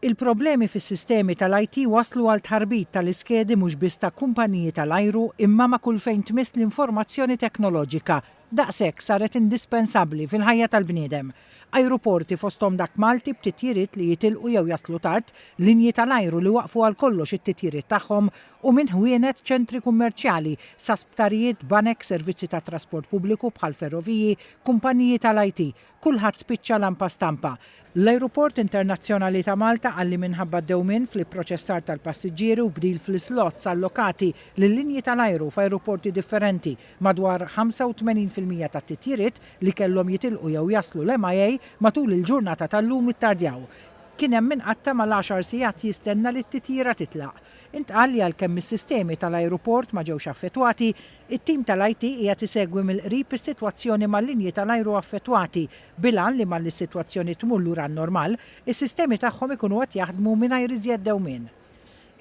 Il-problemi fis-sistemi tal-IT wasslu għal tħarbit tal-iskedi mhux biss ta' kumpaniji tal-ajru imma ma' kull fejn tmiss l-informazzjoni teknoloġika, daqshekk saret indispensabbli fil-ħajja tal-bniedem. Ajruporti fosthom dak Malti b'titjiriet li jitilqu jew jaslu tard, linji tal-ajru li waqqfu għal kollox it-titjiriet tagħhom u minn ħwienet, ċentri kummerċjali, sa sptarijiet, banek, servizzi tat-trasport pubbliku bħall-ferroviji, kumpaniji tal-IT, Kulħadd spiċċa lampa stampa. L-Ajruport Internazzjonali ta' Malta qal li minħabba dewmien fl-ipproċessar tal-passiġġieri u bdil fl-islots allokati lil-linji tal-ajru f'ajruporti differenti, madwar 85 fil-mija tat-titjiriet li kellhom jitilqu jew jaslu l-MIA matul il-ġurnata tal-lum ittardjaw. Kien hemm min qatta' mal-għaxar sigħat jistenna li t-titjira titlaq. Intqal li għalkemm is-sistemi tal-ajruport ma ġewx affettwati, It-tim tal-IT qiegħed isegwi mill-qrib is-sitwazzjoni mal-linji tal-ajru affettwati, bil-għan li malli s-sitwazzjoni tmur lura n-normal, is-sistemi tagħhom ikunu qed jaħdmu mingħajr iżjed dewmien.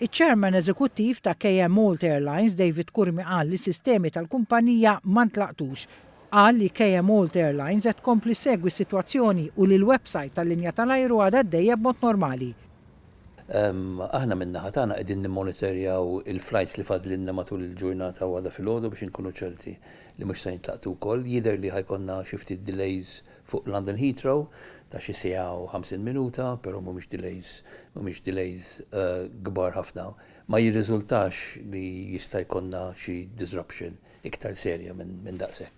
Iċ-Chairman Eżekuttiv ta' KM Malt Airlines, David Curmi qal li s-sistemi tal-kumpanija ma ntlaqtux. Qal li KM Malt Airlines qed tkompli ssegwi s-sitwazzjoni u li l-websajt tal-linja tal-ajru għadha għaddejja b'mod normali. Aħna min-naħa tagħna qegħdin nimmonitorjaw il-flights li fadlilna matul il-ġurnata u għada filgħodu biex inkunu ċerti li mhux se jintlaqtu wkoll. Jidher li ħa jkollna xi ftit delays fuq London Heathrow ta' xi siegħa u 50 minuta, però mhumiex delays mhumiex delays kbar ħafna. Ma jirriżultax li jista' jkollna xi disruption iktar serja minn daqshekk.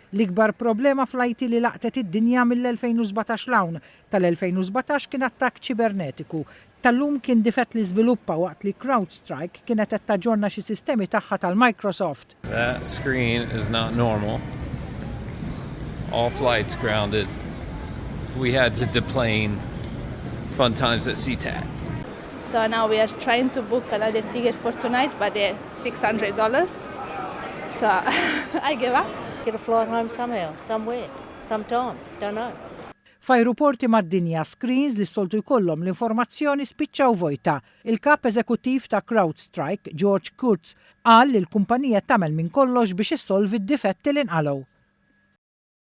L-ikbar problema fl-IT li laqtet id-dinja mill-2017 'l hawn, tal-2017 kien attakk ċibernetiku, tal-lum kien difett li żviluppa waqt li CrowdStrike kienet qed taġġorna xi sistemi tagħha tal-Microsoft. That screen is not normal. All flights grounded. We had to deplane fun times at SeaTac. So now we are trying to book another ticket for tonight but they're 600 dollars. So, I give up. Get a flight home somehow, somewhere, sometime, don't know. F'ajruporti mad-dinja, screens li s-soltu jkollhom l-informazzjoni spiċċaw vojta. Il-Kap Eżekuttiv ta' CrowdStrike, George Kurtz, qal li l-kumpanija tagħmel minn kollox biex issolvi d-difetti li nqalgħu.